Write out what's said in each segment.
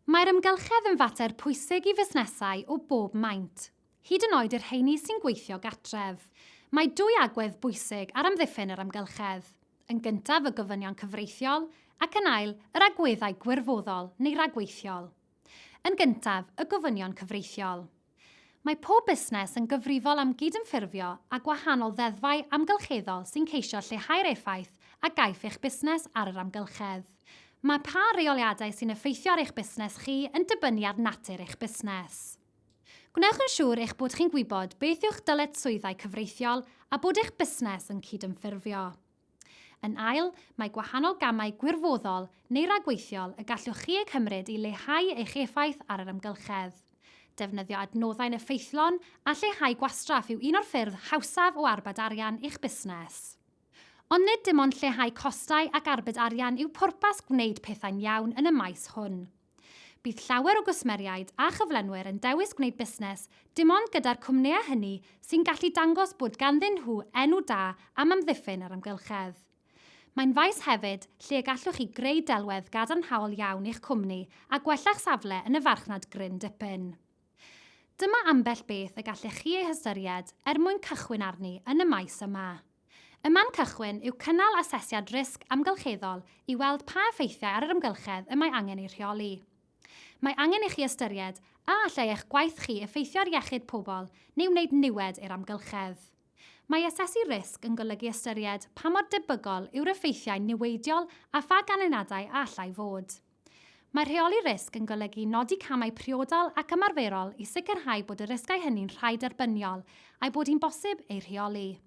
Mae'r amgylchedd yn fater pwysig i fusnesau o bob maint, hyd yn oed y rheiny sy'n gweithio gartref. Mae dwy agwedd bwysig ar amddiffyn yr amgylchedd, yn gyntaf y gofynion cyfreithiol ac yn ail yr agweddau gwirfoddol neu ragweithiol. Yn gyntaf, y gofynion cyfreithiol. Mae pob busnes yn gyfrifol am gydymffurfio â gwahanol ddeddfau amgylcheddol sy'n ceisio lleihau'r effaith a gaiff eich busnes ar yr amgylchedd. Mae pa reoliadau sy'n effeithio ar eich busnes chi yn dibynnu ar natur eich busnes. Gwnewch yn siŵr eich bod chi'n gwybod beth yw'ch dyletswyddau cyfreithiol a bod eich busnes yn cydymffurfio. Yn ail, mae gwahanol gamau gwirfoddol neu ragweithiol y gallwch chi eu cymryd i leihau eich effaith ar yr amgylchedd. Defnyddio adnoddau'n effeithlon a lleihau gwastraff yw un o'r ffyrdd hawsaf o arbed arian i'ch busnes. Ond nid dim ond lleihau costau ac arbed arian yw pwrpas gwneud pethau'n iawn yn y maes hwn. Bydd llawer o gwsmeriaid a chyflenwyr yn dewis gwneud busnes dim ond gyda'r cwmnïau hynny sy'n gallu dangos bod ganddyn nhw enw da am amddiffyn yr amgylchedd. Mae'n faes hefyd lle y gallwch chi greu delwedd gadarnhaol iawn i'ch cwmni a gwella'ch safle yn y farchnad gryn dipyn. Dyma ambell beth y gallech chi ei hystyried er mwyn cychwyn arni yn y maes yma. Y man cychwyn yw cynnal asesiad risg amgylcheddol i weld pa effeithiau ar yr amgylchedd y mae angen eu rheoli. Mae angen i chi ystyried a allai eich gwaith chi effeithio ar iechyd pobl neu wneud niwed i'r amgylchedd. Mae asesu risg yn golygu ystyried pa mor debygol yw'r effeithiau niweidiol a pha ganlyniadau a allai fod. Mae rheoli risg yn golygu nodi camau priodol ac ymarferol i sicrhau bod y risgau hynny'n rhai derbyniol a'i bod hi'n bosib eu rheoli.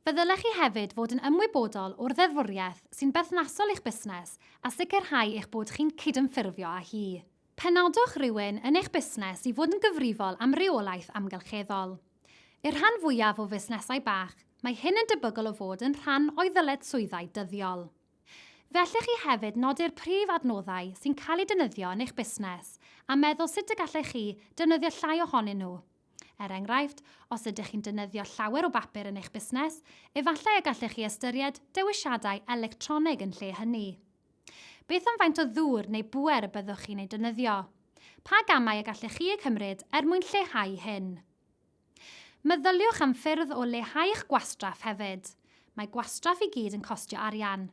Fe ddylech chi hefyd fod yn ymwybodol o'r ddeddfwriaeth sy'n berthnasol i'ch busnes a sicrhau eich bod chi'n cydymffurfio â hi. Penodwch rywun yn eich busnes i fod yn gyfrifol am reolaeth amgylcheddol. I'r rhan fwyaf o fusnesau bach, mae hyn yn debygol o fod yn rhan o'u ddyledswyddau dyddiol. Fe allech chi hefyd nodi'r prif adnoddau sy'n cael eu defnyddio yn eich busnes a meddwl sut y gallech chi defnyddio llai ohonyn nhw. Er enghraifft, os ydych chi'n defnyddio llawer o bapur yn eich busnes, efallai y gallech chi ystyried dewisiadau electronig yn lle hynny. Beth am faint o ddŵr neu bŵer y byddwch chi'n ei defnyddio? Pa gamau y gallech chi eu cymryd er mwyn lleihau hyn? Meddyliwch am ffyrdd o leihau'ch gwastraff hefyd. Mae gwastraff i gyd yn costio arian.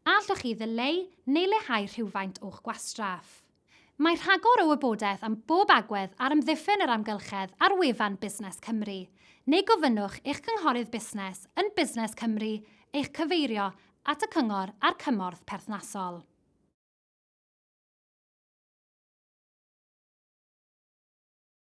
A allwch chi ddileu neu leihau rhywfaint o'ch gwastraff? Mae rhagor o wybodaeth am bob agwedd ar amddiffyn yr amgylchedd ar wefan Busnes Cymru, neu gofynnwch i'ch cynghorydd busnes yn Busnes Cymru eich cyfeirio at y cyngor a'r cymorth perthnasol.